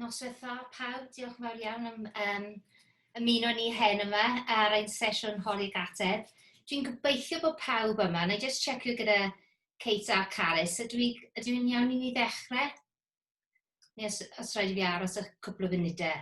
Noswetha pawb, diolch yn fawr iawn am um, ymuno ni hen yma ar ein sesiwn holi gatedd. Dwi'n gobeithio bod pawb yma, na i just checio gyda Kate a Carys, ydw i, ydw i'n iawn i ni ddechrau? Neu os, os rhaid i fi aros y cwpl o funudau?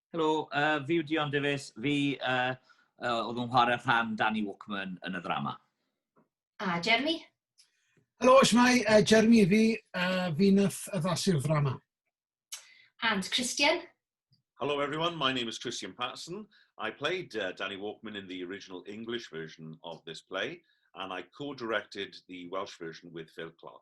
Helo, uh, fi yw Dion Davies. Fi uh, uh, oedd yn chwarae rhan Danny Walkman yn y ddrama. A Jeremy? Helo, Shmai, uh, Jeremy fi, uh, fi nath addasu'r ddrama. And Christian? Hello everyone, my name is Christian Patterson. I played uh, Danny Walkman in the original English version of this play and I co-directed the Welsh version with Phil Clark.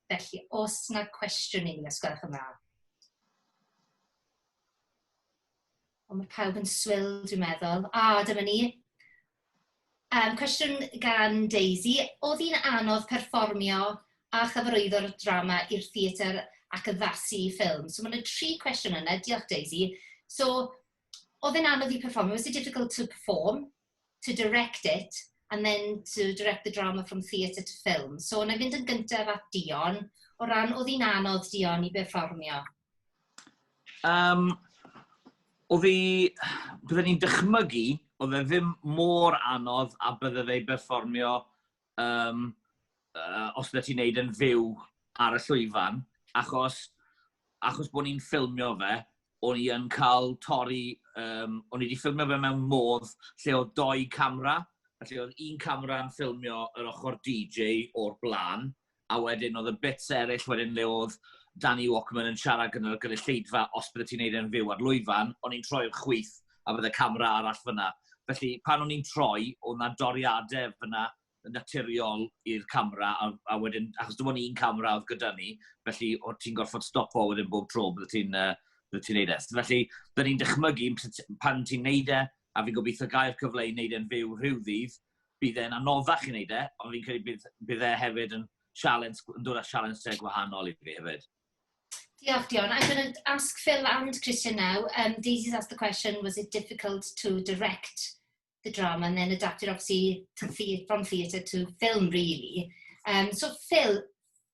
Felly, os na cwestiwn i ni, os gwelwch yn dda. Ond mae pawb yn swil, dwi'n meddwl. A, ah, dyma ni. Um, cwestiwn gan Daisy. Oedd hi'n anodd perfformio a chyfarwyddo'r drama i'r theatr ac addasu i ffilm? So mae'n y tri cwestiwn yna. Diolch Daisy. So, oedd e'n anodd i perfformio? Was it difficult to perform? to direct it and then to direct the drama from theatre to film. So, na i fynd yn gyntaf at Dion, o ran oedd hi'n anodd Dion i berfformio? Um, oedd hi, byddwn ni'n dychmygu, oedd e ddim mor anodd a byddai fe berfformio um, uh, os ydy ti'n neud yn fyw ar y llwyfan, achos, achos bod ni'n ffilmio fe, o'n i yn cael torri, um, o'n i wedi ffilmio fe mewn modd lle oedd doi camera, a lle oedd un camera yn ffilmio yr ochr DJ o'r blaen, a wedyn oedd y bits eraill wedyn le oedd Danny Walkman yn siarad gyda'r gynulleidfa os bydde ti'n neud e'n fyw ar lwyfan, o'n i'n troi'r chwith a bydde camera arall fyna. Felly, pan o'n i'n troi, oedd yna doriadau fyna yn naturiol i'r camera, a, a wedyn, achos dim ond un camera oedd gyda ni, felly o ti'n gorfod stopo wedyn bob tro bydde ti'n uh, bydde ti'n neud e. Felly, dyn ni'n dychmygu pan ti'n neud e, a fi'n gobeithio gael cyfle i neud e'n fyw rhyw ddydd, bydd e'n anoddach i wneud e, ond fi'n credu bydd, bydd e hefyd yn sialens, yn dod â sialens te gwahanol i fi hefyd. Diolch, Dion. I'm going to ask Phil and Christian now. Um, Daisy's asked the question, was it difficult to direct the drama and then adapt it obviously to the, from theatre to film, really? Um, so, Phil,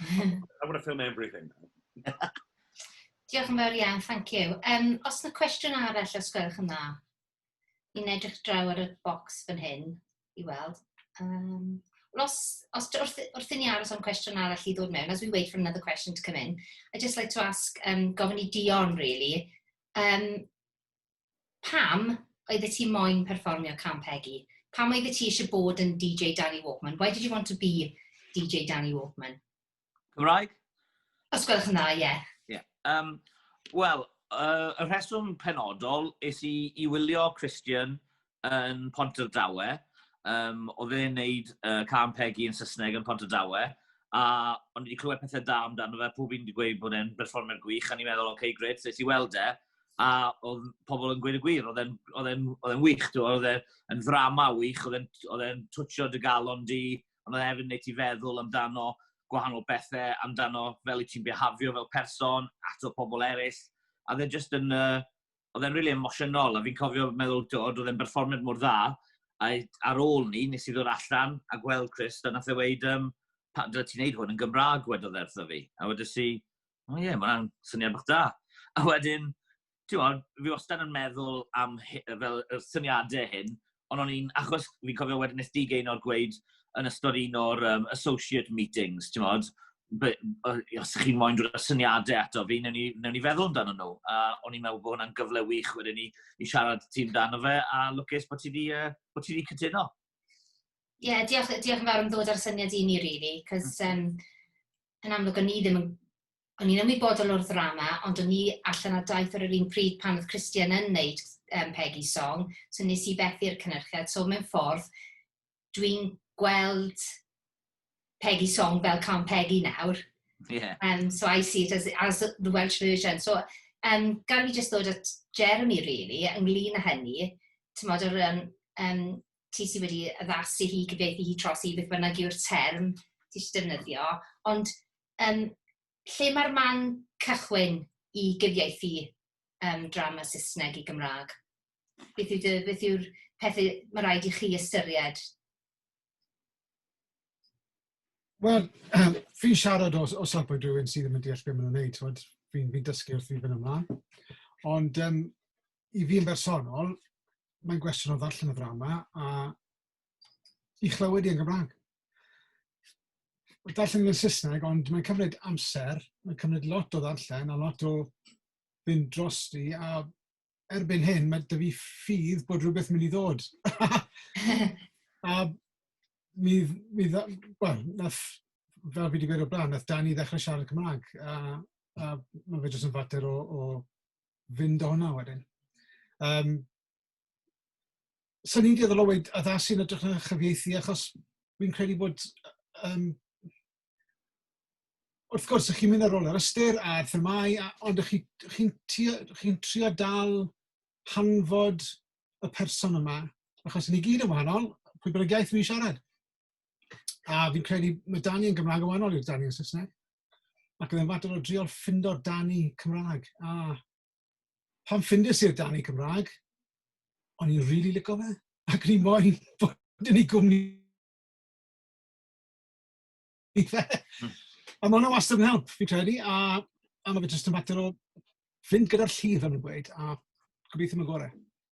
I want to film everything now. Diolch yn fawr iawn, thank you. Um, os yna cwestiwn arall, os gwelwch yn dda, i'n edrych draw ar y bocs fan hyn i weld. Um, os, os wrth, wrth i ni aros am cwestiwn arall i ddod mewn, as we wait for another question to come in, I'd just like to ask, um, gofyn i Dion, really, um, Pam oeddet ti moyn perfformio cân Pegi? Pam oeddet ti eisiau bod yn DJ Danny Walkman? Why did you want to be DJ Danny Walkman? Cymraeg? Os gwelwch yn dda, ie. Ie. Yym, wel, yy, y rheswm penodol es i i wylio Christian yn Pontardawe, um, oedd e'n neud uh, Can Peggy yn Saesneg yn Pontardawe, a o'n i wedi clywed pethau da amdano fe, pob un wedi gweud bod e'n berfformio'n gwych, a ni'n meddwl, oce, okay, gred, nes i weld e, a oedd pobl yn gweud y gwir, oedd e'n wych, oedd e'n ddrama wych, oedd e'n twtio dy galon di, ond oedd e'n neud ti feddwl amdano gwahanol bethau, amdano fel i ti'n behafio fel person, ato pobl eraill, a dde jyst yn, uh, oedd e'n rili really emosiynol, a fi'n cofio meddwl, oedd e'n berfformiad mor dda, a ar ôl ni, nes i ddod allan a gweld Chris, a nath e weid, um, pa, dyle ti'n neud hwn yn Gymraeg, wedodd e wrtho fi. A wedys i, o oh, ie, yeah, mae'n syniad bych da. A wedyn, ti'n fi wastad yn meddwl am fel y syniadau hyn, Ond o'n i'n, achos fi'n cofio wedyn wnaeth Dee Gaynor gweud yn ystod un o'r um, associate meetings, ti'n modd, os chi'n moyn dod â syniadau ato fi, newn ni, newn ni feddwl amdano nhw. A o'n i'n meddwl bod hwnna'n gyfle wych wedyn ni i siarad ti amdano fe, a lwcus bod ti wedi uh, bod ti wedi cytuno. Ie, yeah, diolch, diolch yn fawr am ddod ar syniad i ni, really, cos um, yn amlwg o'n i ddim yn o'n i'n ymwybodol o'r ddrama ond o'n i allan ar daith ar yr un pryd pan oedd Christian yn wneud um, Peggy Song, so nes i fethu'r cynnyrchiad. So mewn ffordd, dwi'n gweld Peggy Song fel Can Peggy nawr. Yeah. Um, so I see it as, as the Welsh version. So um, gan fi jyst dod at Jeremy, really, ynglyn â hynny, ti'n modd o'r um, um, ti sydd wedi addasu hi, cyfeithi hi tros i beth bynnag yw'r term ti eisiau defnyddio, ond Yym, lle mae'r man cychwyn i gyfieithu yym drama Saesneg i Gymraeg? Beth yw dy... beth yw'r pethau mae rhaid i chi ystyried? Wel, fi'n siarad o o safbwynt rhywun sydd ddim yn deall be maen nhw'n wneud, t'mod? Fi'n fi'n dysgu wrth i fy mlan. Ond yym i fi yn bersonol, mae'n gwestiwn o ddarllen y ddrama a i chlywed i yn Gymraeg. Mae'n darllen yn Saesneg, ond mae'n cymryd amser, mae'n cymryd lot o ddarllen a lot o fynd drosti, a erbyn hyn mae dy fi ffydd bod rhywbeth mynd i ddod. a mi, mi dda, well, nath, fel fi wedi gweud o blaen, nath Dani ddechrau siarad Cymraeg, a, a mae fe jyst yn fater o, o fynd o hwnna wedyn. Um, 'Swn i'n dueddol o weud addasu yn ytrach na chyfieithu achos fi'n credu bod yym wrth gwrs dych chi'n mynd ar ôl yr ystyr a'r themâu a ond dych chi dych chi'n tua- dych chi'n trio dal hanfod y person yma achos 'yn ni gyd yn wahanol, pwy bynnag iaith fi'n siarad a fi'n credu ma' Dani yn Gymraeg yn wahanol i'r Dani yn Saesneg ac oedd e'n fater o drio ffindo'r Dani Cymraeg a Pan ffindes i'r Dani Cymraeg, o'n i'n rili lico fe, ac o'n i moyn bod yn ei gwmni fe. Hmm. A mae hwnna wastad yn help, fi'n credu, a, a mae fe jyst yn fater o fynd gyda'r llif yn y gweud, a gobeithio mae'n gorau.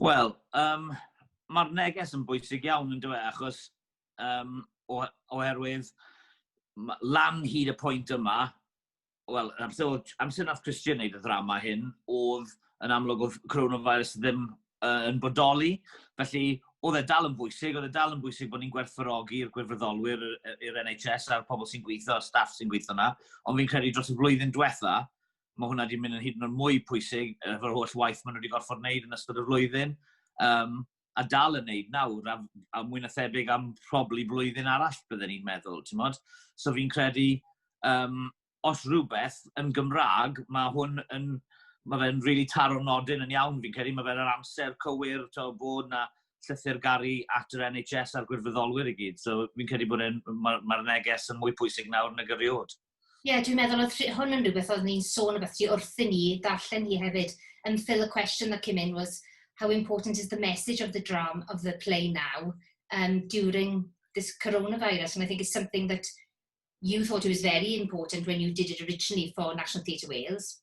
Wel, yym, ma'r neges yn bwysig iawn yndyw e, achos yym, o- oherwydd ma- lan hyd y pwynt yma, wel, yn amser o'dd- amser nath Christian neud y ddrama hyn, o'dd yn amlwg o'dd coronavirus ddim yy yn bodoli, felly o'dd e dal yn bwysig, o'dd e dal yn bwysig bo' ni'n gwerthfawrogi'r gwirfoddolwyr yy yy i'r NHS a'r pobl sy'n gwitho, y staff sy'n gwitho 'na, ond fi'n credu dros y flwyddyn dwetha, mae hwnna wedi mynd yn hyd yn oed mwy pwysig, uh, fod holl waith maen nhw wedi gorfod wneud yn ystod y flwyddyn, um, a dal yn wneud nawr, a, a mwy na thebyg am probably blwyddyn arall, byddwn ni'n meddwl, ti'n modd? So fi'n credu, um, os rhywbeth yn Gymraeg, mae hwn yn, mae fe'n rili really taro nodyn yn iawn, fi'n credu, mae fe'n yr amser cywir, to, bod na llythyr garu at yr NHS a'r gwirfoddolwyr i gyd. So fi'n credu bod e'n, mae'r ma neges yn mwy pwysig nawr nag erioed. Ie, dwi'n meddwl oedd rhi- hwn yn rhywbeth oedd ni'n sôn o beth ti wrthyn ni darllen hi hefyd. And um, Phil, the question that came in was how important is the message of the drama of the play now um, during this coronavirus? And I think it's something that you thought it was very important when you did it originally for National Theatre Wales.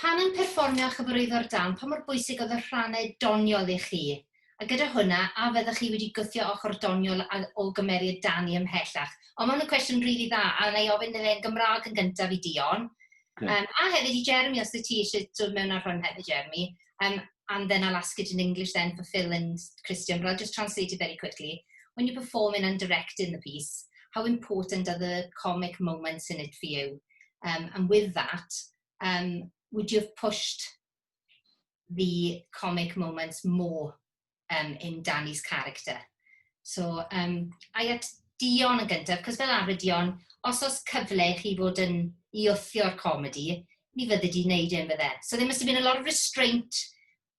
Pan yn perfformio a chyfarwyddo'r darn, pa mor bwysig oedd y rhannau doniol i chi? A gyda hwnna, a fyddech chi wedi gwthio ochr doniol o gymeriad Dani ymhellach? O, ma' hwn yn cwestiwn rili dda, a wna i ofyn iddo fe yn Gymraeg yn gyntaf i Dion. Yym, a hefyd i Jeremy, os wyt ti eisiau dod mewn ar hwn hefyd, Jeremy. Um, and then I'll ask it in English then for Phil and Christian, but I'll just translate it very quickly. When you're performing and directing the piece, how important are the comic moments in it for you? Um, and with that, um, would you have pushed the comic moments more um, in Danny's character? So, um, I at Dion yn gyntaf, cos fel arfer Dion, os oes cyfle i chi fod yn i wthio'r comedi, ni fyddi di wneud e'n fydde. So there must have been a lot of restraint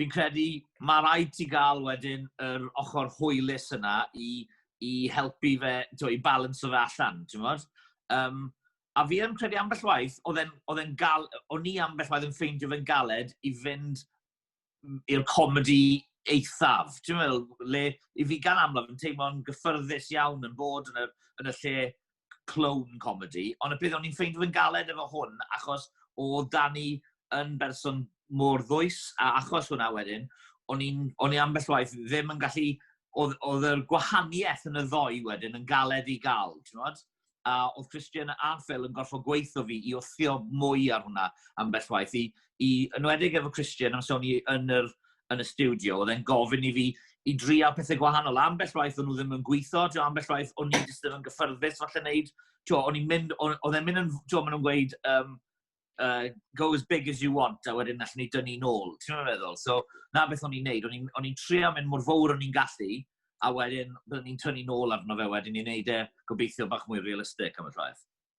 fi'n credu mae rhaid ti gael wedyn yr ochr hwylus yna i, i helpu fe, to, i balans o fe allan, ti'n gwybod? Um, a fi yn credu ambell waith, oedd e'n gal, o'n i ambell waith yn ffeindio fe'n galed i fynd i'r comedi eithaf. Ti'n meddwl, le, i fi gan amlaf yn teimlo'n gyffyrddus iawn yn bod yn y, yn y lle clown comedi, ond y peth o'n i'n ffeindio fe'n galed efo hwn, achos o Dani yn berson mor ddwys, a achos hwnna wedyn, o'n i'n, o'n i ambell waith ddim yn gallu, oedd, oedd yr gwahaniaeth yn y ddoi wedyn yn galed i gael, ti'n modd? A oedd Christian a Phil yn gorfod gweithio fi i wthio mwy ar hwnna ambell waith, i, i, enwedig efo Christian, os o'n i yn, yr, yn y studio, oedd e'n gofyn i fi i dria pethau gwahanol. Ambell waith o'n nhw ddim yn gweithio, tio, ambell waith o'n i ddim yn gyffyrddus falle wneud. Tio, o'n i'n mynd, oedd e'n mynd yn, tio, maen nhw'n gweud, um, uh, go as big as you want, a wedyn allan ni dynnu nôl. Ti'n mynd meddwl? So, na beth o'n i'n neud. O'n i'n trio mynd mor fawr o'n i'n gallu, a wedyn byddwn ni'n tynnu nôl arno fe wedyn ni'n neud e gobeithio bach mwy realistig am y traeth.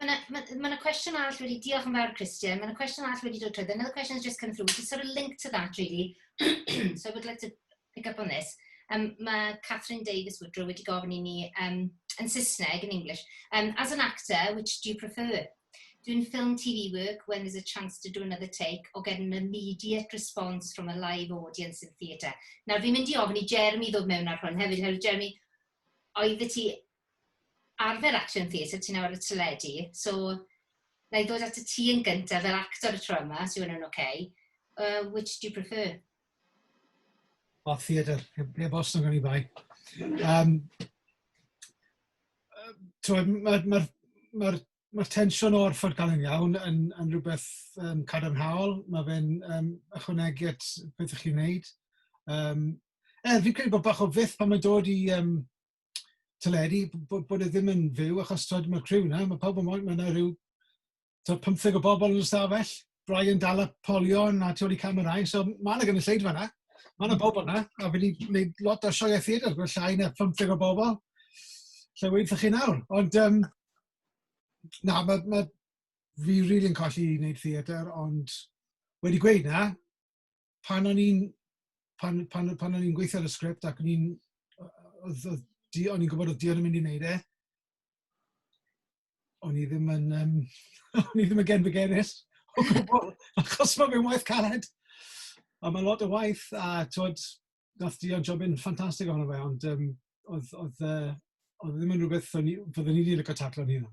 Mae yna ma, ma na cwestiwn arall wedi... Diolch yn fawr Christian. Mae yna cwestiwn arall wedi dod trwy. Another question has just come through, which is sort of linked to that really. so I would like to pick up on this. Um, mae Catherine Davis Woodrow wedi gofyn i ni um, yn Saesneg, yn English. Um, as an actor, which do you prefer? Doing film TV work when there's a chance to do another take or getting an immediate response from a live audience in theatre. Nawr, fi'n mynd i ofyn i Jeremy ddod mewn ar hwn hefyd, hefyd Jeremy, oedd ti arfer action theatre ti nawr ar y teledu so wna i ddod at y ti yn gyntaf fel actor y tro yma os yw hwnna'n ok. Uh, which do you prefer? O, theatr, heb, heb os nag oni bai. Um, Mae'r ma, ma, ma, ma tensiwn o'r ffordd gael yn iawn yn, yn rhywbeth um, cadarnhaol. Mae fe'n um, ychwanegu at beth ych chi'n neud. Um, er, fi'n credu bod bach o fyth pan mae'n dod i um, teledu bod, bod e ddim yn fyw achos tod, mae'r criw yna, mae pawb yn moyn, mae yna rhyw tod, 15 o bobl yn y stafell, Brian dal y polion a tu ôl i camerau, so mae yna gynulleidfa yna, mae yna bobl yna, a fi wedi gwneud lot o sioiau theatr, gwneud llai na 15 o bobl, lle wedi chi nawr. Ond, um, na, mae, mae fi rili'n really colli i wneud theatr, ond wedi gweud na, pan o'n i'n pan pan o- pan o'n i'n gweithio ar y sgript ac o'n i'n o- o- odd odd Dee o'n i'n gwbod odd Dion yn mynd i neud e o'n i ddim yn yym o'n i ddim yn genfigennus o gwbwl achos ma' fe'n waith caled a ma' lot o waith a t'wod nath Dion jobyn ffantastig ohono fe ond yym odd odd yy odd e ddim yn rwbeth o'n i fyddwn i 'di lico taclo'n hunan.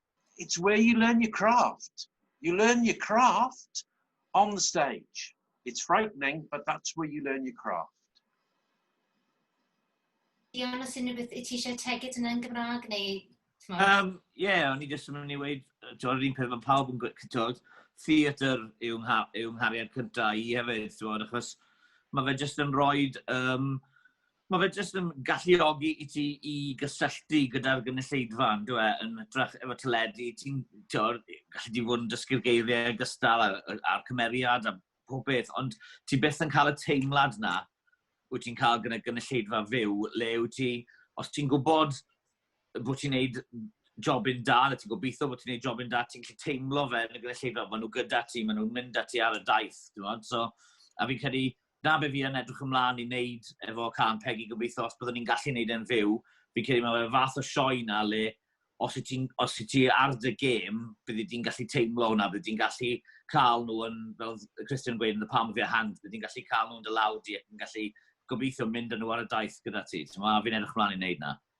it's where you learn your craft. You learn your craft on the stage. It's frightening, but that's where you learn your craft. Dion, os unrhyw beth, ti eisiau tegyd yna yn Gymraeg neu... Um, yeah, o'n i jyst yn mynd i weid, ti'n yr un peth mae pawb yn gwybod, theatr yw, ngha, yw nghariad cyntaf i hefyd, ti'n achos mae fe jyst yn rhoi um, Mae fe jyst yn galluogi i ti i gysylltu gyda'r gynulleidfa, yn dyw e, yn hytrach efo teledu, ti'n, ti'n, gallu di fod yn dysgu'r geiriau gystal a'r cymeriad a pob beth, ond ti byth yn cael y teimlad na wyt ti'n cael gyda gynulleidfa fyw, le wyt ti, os ti'n gwybod bod ti'n neud jobyn da, na ti'n gobeithio bod ti'n neud jobyn da, ti'n gallu teimlo fe yn y gynulleidfa, maen nhw gyda ti, maen nhw'n mynd â ti ar y daith, ti'n so, a fi'n credu, 'na be fi yn edrych ymlaen i neud efo cân Pegi, gobeithio os byddwn ni'n gallu neud e'n fyw, fi'n credu mae fe'r fath o sioe 'na le os wyt ti'n, os wyt ti ar dy gêm, byddi di'n gallu teimlo hwnna, byddi di'n gallu cael nhw yn, fel oedd Christian yn gweud yn The Palm of Your Hand, byddi di'n gallu cael nhw yn dy law di ac yn gallu gobeithio mynd â nhw ar y daith gyda ti, timod, a fi'n edrych ymlaen i neud 'na.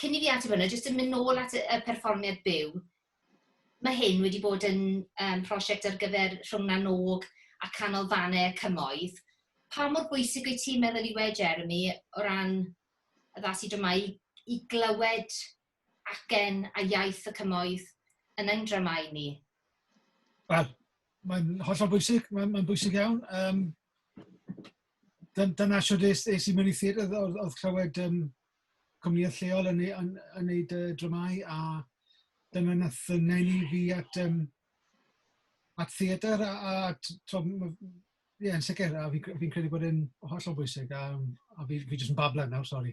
Cyn i fi ateb hwnna, jyst yn mynd nôl at y perfformiad byw, mae hyn wedi bod yn yym prosiect ar gyfer Rhwng Na nOg a Canolfannau y Cymoedd. Pa mor bwysig wyt ti'n meddwl yw e, Jeremy, o ran addasu i dramâu, i glywed acen a iaith y cymoedd yn ein dramâu ni? Wel, mae'n hollol bwysig, mae'n mae bwysig iawn. Um, dyna sut es, es i mewn i theatr, oedd, oedd clywed um, cwmnïau lleol yn eu yn yn neud yy dramâu a dyna nath yy neu' fi at yym at theatr a a at t'wo' ma' ie yn sicir a fi cre- fi'n credu bod e'n hollol bwysig a yym a fi fi jyst yn bablon nawr sori.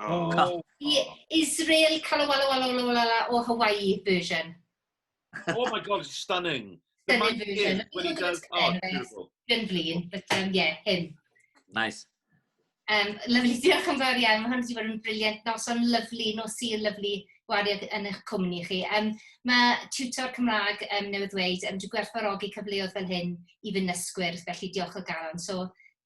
Oh. oh. The Israel Kalawalawalawala o Hawaii version. oh my god, stunning. Stunning version. When he does, oh, beautiful. Yn flin, but um, yeah, him. Nice. Um, lovely, diolch yn fawr iawn. Mae hwn wedi bod yn briliant. Noson lyflu, nos i'r lyflu gwariad yn eich cwmni chi. Um, mae tutor Cymraeg um, newydd ddweud, um, dwi'n gwerthfarogi cyfleoedd fel hyn i fy nysgwyr, felly diolch o galon. So,